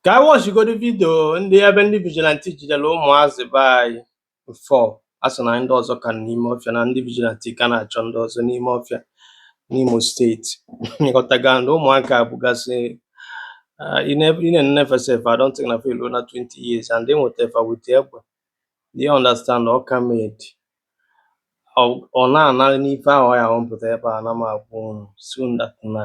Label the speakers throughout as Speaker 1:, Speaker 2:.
Speaker 1: ka anyị wọchigodu vidio ndị a ebe ndị vigilanti jidere ụmụazị be anyị four a sị na ndị ọzọ ka nọ n'ime ọfịa na ndị vigilanti ka na-achọ ndị ọzọ n'ime ọfịa n'Imo steeti ịghọtago na ụmụaka a bụgasị uh, in every e nee fa sef, I don't think na fa eluna 20 years, and e nwetara fa with egbe, you understand Awka made. Ọ na-ana ife ahụ ya m pụta ebe a, na m agwa unu soon that na.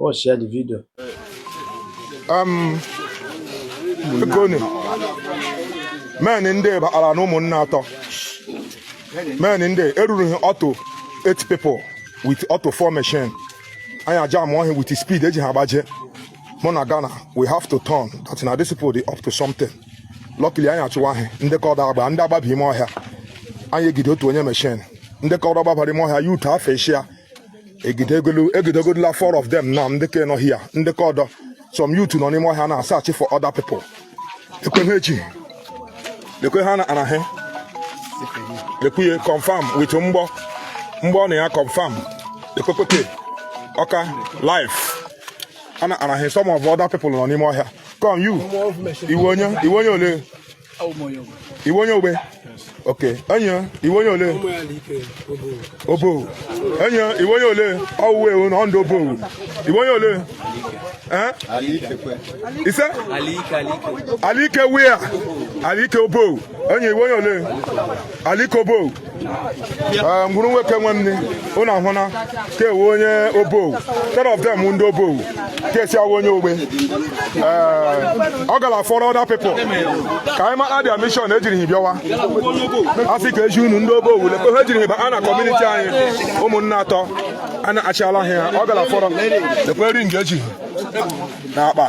Speaker 1: Oh, share the video.
Speaker 2: Um, Ekoni, men ndị bakpara na Ụmụnna atọ. Men ndị eruru ha otu eight people with otu four machine. Anyị ajamụọ ha with speed eji ha agba eje. Mụ na Ghana, we have to turn that na this people dey up to something. Luckily anyị achụwa ha ndị ke ọdọ agbaa ndị agbaba ime ọhịa. Anyị egide otu onye machine. Ndị ke ọdọ gbabara ime ọhịa ya utu afọ echi ya. egidegola four of them na ndị ka nọ ọhịa ndị ke ọdọ some youth nọ n'ime ọhịa na-asachi for other people lekwe ha echi lekwe ihe anara hi lekwe ya confirm with mgbọ mgbọ nọ ya confirm lekwe kpeke ọka live anara hi some of other people nọ n'ime ọhịa come you ị wụ onye ị wụ onye ole iwe onye ogbe oke enyi iwe onye ole obo enyi iwe onye ole ọwụwa ewu na ọndụ obo iwe onye ole eh? ise alike wia alike obo enyi iwe onye ole Alike Obowo eh, Nguru Nweke nwanne unu ahụ na ke wụ onye Obowo ten of them wụ ndị Obowo ke sị a wụ onye Ogbe eh, a gala for other people ka anyị mara their mishọn ejiri hi bịawa asị ka eji unu ndị Obowo lee ka ejiri hi baa na kọmuniti anyị Ụmụnna atọ a na-achịala ha a gala fọrọ lekwe ring eji hi na akpa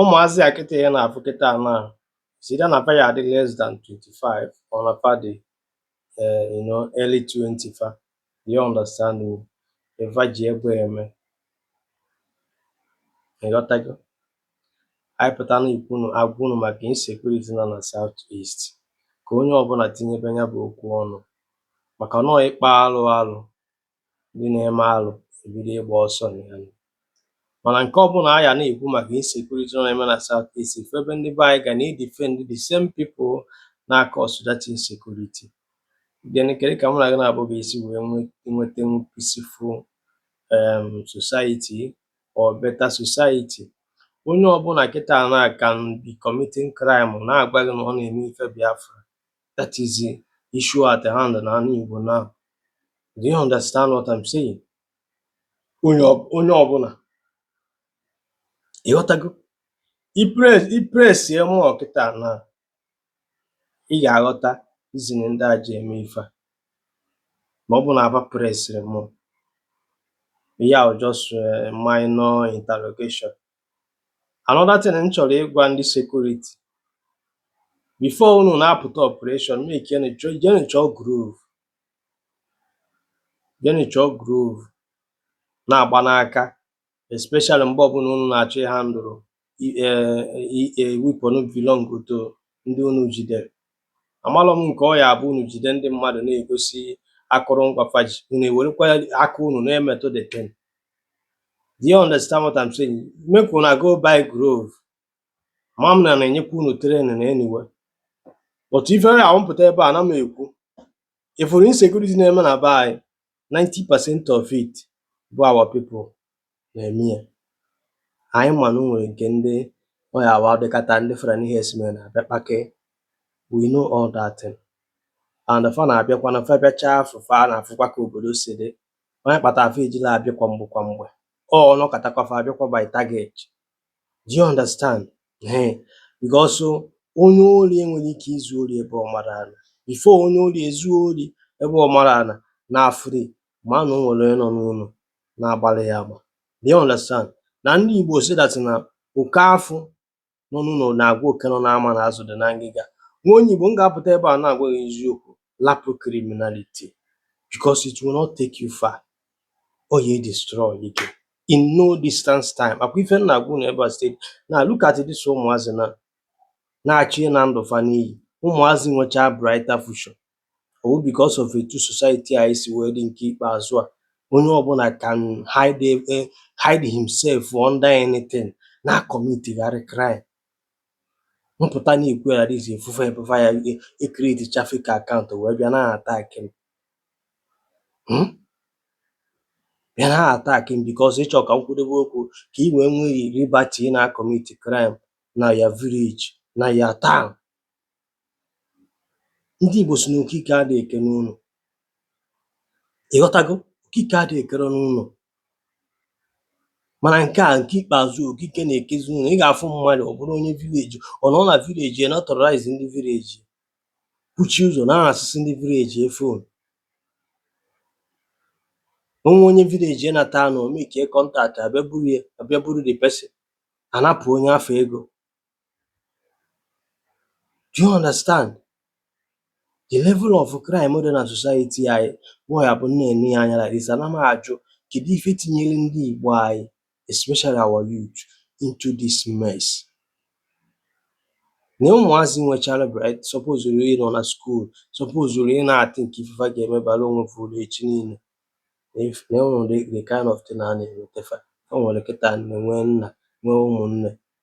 Speaker 1: ụmụazị a kịta anyị na-afụ kịta na is either na fa ya adị less than 25 or na fa dị eh, you know, early 20 fa you understand me ife fa ji egbe eme ịghọtago anyị pụta na-ekwunu agwa unu maka insecurity nọ na South East ka onye ọbụla tinyebe anya bụ okwu ọnụ maka na ọ ịkpa alụ alụ ndị na-eme alụ ebido ịgba ọsọ na ya nụ. Mana nke ọbụla anyị na-ekwu maka insecurity nọ na-eme na South East ị fụ ebe ndị be anyị ga na-edefend the same people na-acause that insecurity. Then kedu ka mụ na gị naabọ ga-esi wee nwe- nwetenwu peaceful um, society or better society onye ọbụla kịta na can be committing crime na-agwa gị na ọ na-eme ife Biafra That is the issue at hand na anị Igbo now Do you understand what I'm saying? Onye ọbụla ịghọtago ị presie mụọ kịta na ị ga-aghọta izini ndị a ji eme ife a ma ọ bụ na aba presịrị mụ ya just eh, minor interrogation another thing m chọrọ ịgwa ndị sekuriti bifo unu na-apụta ọpụreshọn mekenu jenu chọọ glove jenu chọọ glove na-agba n'aka especially mgbe ọbụla unu na-achọ ịhandụlụ wepon belong to ndị unu jidere amalọ m nke ọ ya abụ unu jide ndị mmadụ na-egosi akụrụngwa fa ji unu ewerekwa aka unu na-emetụ the thing Do you understand what I'm saying? Make una go buy glove. Ama m na a na-enyekwa unu training anyway. But ife ọ wụ m pụta ebe a na m ekwu ị fụrụ insecurity na-eme na be anyị 90 percent of it bụ our people na-eme ya. Anyị ma na o nwere nke ndị ọ ya awụ dịkata ndị Fulani herdsmen na-abịa akpa ike. We know all that thing. And fa na-abịakwa na fa bịachaa afụ fa a na-afụkwa ka obodo si dị. Ọ ya kpatara fa ejilọ abịa kwa mgbe kwa mgbe. Ọ ọ nọkatakwa fa abịakwa by target. Do you understand? Ee, because onye ori enwerọ ike izu ori ebe ọ marọ ana. Before onye ori ezuo ori ebe ọ marọ ana na afụri ma na o nwere onye nọ n'ụlọ na-agbara ya agba. Do you understand? Na ndị Igbo sị that na oke afụ nọ n'ụlọ na-agwa oke nọ n'ama na azụ dị na ngịga nwa onye Igbo m ga-apụta ebe a na-agwa gị eziokwu lapụ criminality because it will not take you far ọ ya destroy ike in no distance time ọ kwa ife m na-agwa unu ebe a steady na look at this ụmụazị na na-achọ ịna ndụ fa n'iyi ụmụazị nwechaa brighter future ọ wụ because of etu society anyị si wee dị nke ikpeazụ a onye ọbụla can hide eh, hide himself under anything na-akọmitigharị crime m pụta na-ekwu ya dịzi ị fụ fa ebe fa ya ekretichaa fake akaụntụ wee bịa na-atak m Hmm? bịa na-atak m because ị chọ ka m kwudebe okwu ka ị wee nwee liberty na-akọmiti crime na your village na your town ndị Igbo sị na okike adịghị eke n'ụlọ, ị ghọtago? Okike adịghị ekere n'ụlọ mana nke a nke ikpeazụ okike na-ekezi n'ụlọ. Ị ga-afụ mmadụ ọ bụrụ onye vileji ọ nọrọ na vileji ya na-aterọraizi ndị vileji kụchie ụzọ na-anasịsị ndị vileji ya fon. O nwee onye vileji ya nata ụnọ o mekie kọntaktị a bịa buru ya a bịa buru the person a napụ onye afụ ego. Do you understand? The level of crime dị na society anyị boy abụ m na-ene ya anya like this ana m ajụ kedu ife tinyere ndị Igbo anyị especially our youth into this mess na ụmụazị nwechara bright suppose ru ịnọ na school suppose ru ịna-athink ife fa ga-eme bara onwe fa uru echi niile na if- na e nwere the kind of thing a na-emete fa o nwere kịta nne nwee nna nwee ụmụnne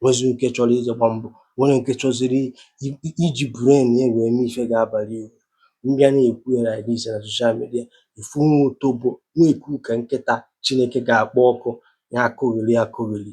Speaker 1: nwezi nke chọrọ ije gba mbọ nwere nke chọziri iji brain ya wee mee ife ga-abali uru m bịa na-ekwu ya like this na social media ị fụ nwa otobo na-ekwu ka nkịta Chineke ga-akpọ ọkụ ya akọgheri akọgheri